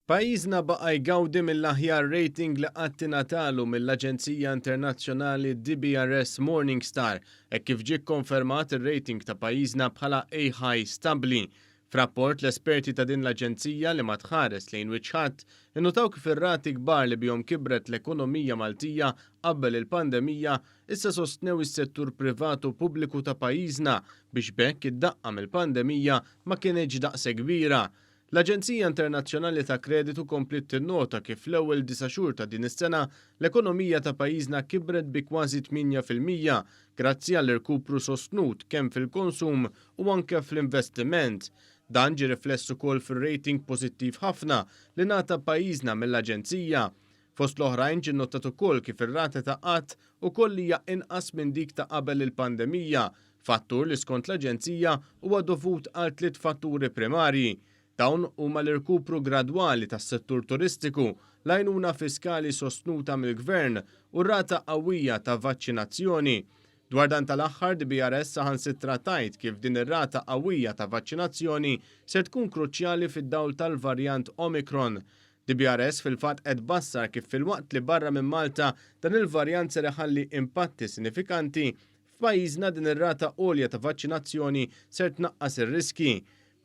Pajjiżna baqa' jgawdi mill-aħjar rating li qatt ingħatalu mill-aġenzija internazzjonali DBRS Morningstar hekk kif ġie kkonfermat ir-rating ta' pajjiżna bħala A High Stabbli. F'rapport l-esperti ta' din l-aġenzija li ma tħares lejn wiċċ ħadd, innutaw kif ir-rati kbar li bihom kibret l-ekonomija Maltija qabel il-pandemija issa sostnew is-settur privat u pubbliku ta' pajjiżna biex b'hekk id-daqqa mill-pandemija ma kinitx daqshekk kbira. L-Aġenzija Internazzjonali ta' Kreditu kompliet tinnota kif l-ewwel disa' xhur ta' din is-sena l-ekonomija ta' pajjiżna kibret bi kważi tmienja fil-mija grazzi għall-irkupru sostnut kemm fil-konsum u anke fl-investiment. Dan ġie rifless ukoll fir-rating pożittiv ħafna li ngħata pajjiżna mill-Aġenzija Fost l-oħrajn ġie nnotat ukoll kif ir-rata ta' qgħad ukoll hija inqas minn dik ta' qabel il-pandemija, fattur li skont l-Aġenzija huwa dovut għal tliet fatturi primarji. Dawn huma l-irkupru gradwali tas-settur turistiku, l-għajnuna fiskali sostnuta mill-Gvern u r-rata qawwija ta' vaċċinazzjoni. Dwar dan tal-aħħar, DBRS saħansitra tgħid kif din ir-rata qawwija ta' vaċċinazzjoni ser tkun kruċjali fid-dawl tal-varjant Omicron DBRS fil-fatt qed tbassar kif filwaqt li barra minn Malta dan il-varjant ser iħalli impatti sinifikanti, f'pajjiżna din ir-rata għolja ta' vaċċinazzjoni ser tnaqqas ir-riskji.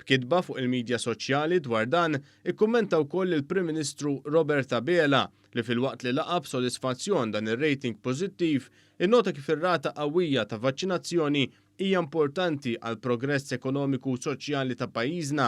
B'kitba fuq il-midja soċjali dwar dan, ikkummenta wkoll il-Prim Ministru Robert Abela li filwaqt li laqa' b'sodisfazzjon dan ir-rating pożittiv, innota kif ir-rata qawwija ta' vaċċinazzjoni hija importanti għall-progress ekonomiku u soċjali ta' pajjiżna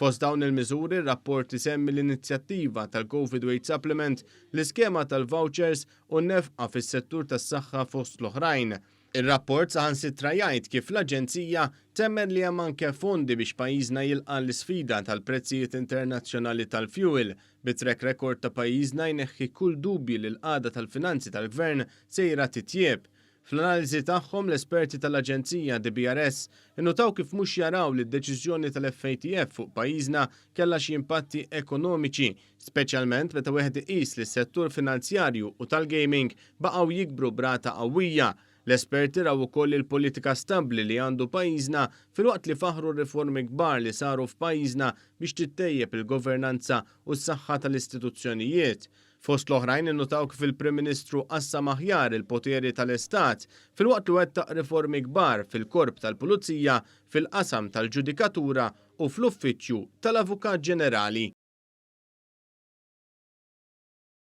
Fost dawn il-miżuri, r-rapport isemmi l-inizjattiva tal-Covid Weight Supplement, l-iskema tal-vawċers u n-nefqa fis-settur tas-saħħa fost l-oħrajn. Ir-rapport saħansitra jgħid kif l-Aġenzija temmen li hemm anke fondi biex pajjiżna jilqa' l-isfida tal-prezzijiet internazzjonali tal-fjuwil, bit-track record ta' pajjiżna jneħħi kull dubji li l-qagħda tal-finanzi tal-Gvern sejra titjieb. Fl-analiżi tagħhom, l-esperti tal-Aġenzija DBRS innutaw kif mhux jaraw li d-deċiżjoni tal-FATF fuq pajjiżna kellha xi impatti ekonomiċi, speċjalment meta wieħed iqis li s-settur finanzjarju u tal-gaming baqgħu jikbru b'rata qawwija. L-esperti raw ukoll il-politika stabbli li għandu pajjiżna filwaqt li faħħru r-riformi kbar li saru f'pajjiżna biex tittejjeb il-governanza u s-saħħa tal-istituzzjonijiet. Fost l-oħrajn innutaw kif il-Prim Ministru qassam aħjar il-poteri tal-Istat filwaqt li wettaq riformi kbar fil-Korp tal-Pulizija, fil-qasam tal-ġudikatura u fl-Uffiċċju tal-Avukat Ġenerali.